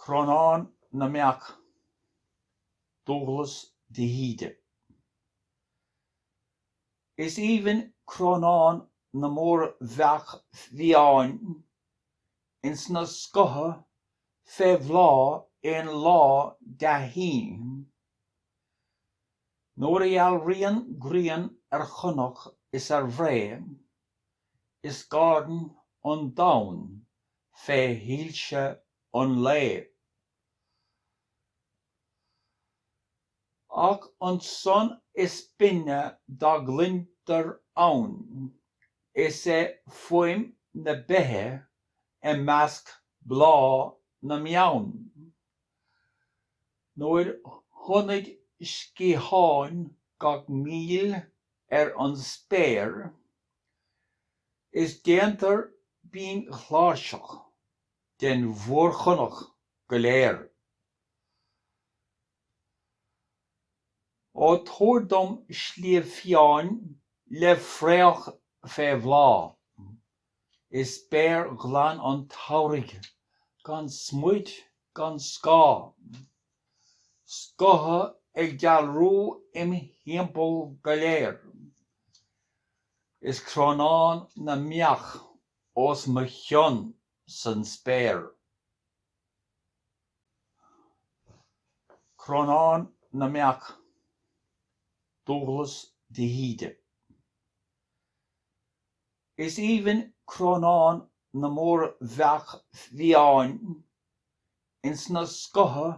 Crónán na mBeach, Dubhghlas de hÍde. Is aoibhinn crónán na mór-bheach bhfiáin ins na scotha fé bhláth aon lá dea-shín, Nuair a dhealraíonn grian ar chonach is ar bhré, is gairdeann an domhan fé shoilse an lae. Ach an son is binne dá gcluintear ann, is é fuaim na beiche i measc bláth na mbeann. Nuair thonnaid sciatháin gach míl ar an spéir, is déantar binn-chláirseach den mhórchonach go léir. Ó tabhair dom sliabh fiáin le fraoch fé bhláth. is spéir ghlan an tsamhraidh, gan smúid gan scáth, scotha ag dealrú im thimpeall go léir, is crónán na mbeach os mo chionn san spéir. Crónán na mbeach, Dubhghlas de hÍde. Is aoibhinn crónán na mór-bheach bhfiáin ins na scotha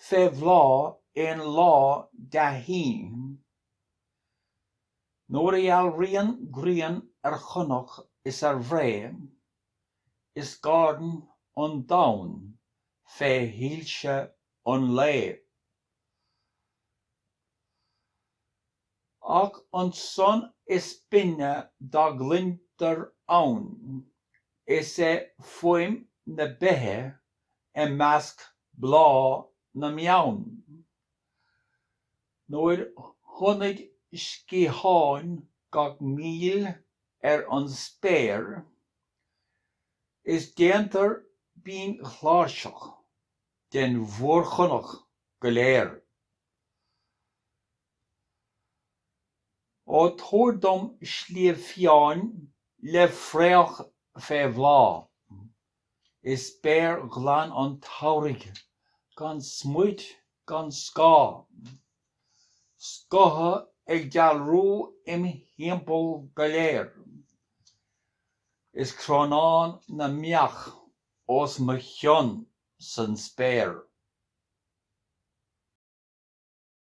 fé bhláth aon lá dea-shín. Nuair a dhealraíonn grian ar chonach is ar bhré, is gairdeann an domhan fé shoilse an lae. Ach an son is binne dá gcluintear ann is é fuaim na beiche i measc bláth na mbeann. Nuair thonnaid sciatháin gach míl ar an spéir, is déantar binn-chláirseach den mhórchonach go léir. Ó tabhair dom sliabh fiáin le fraoch fé bhláth, Is spéir ghlan an tsamhraidh gan smúit gan scáth, Scotha ag dealrú im thimpeall go léir, Is crónán na mbeach os mo chionn san spéir.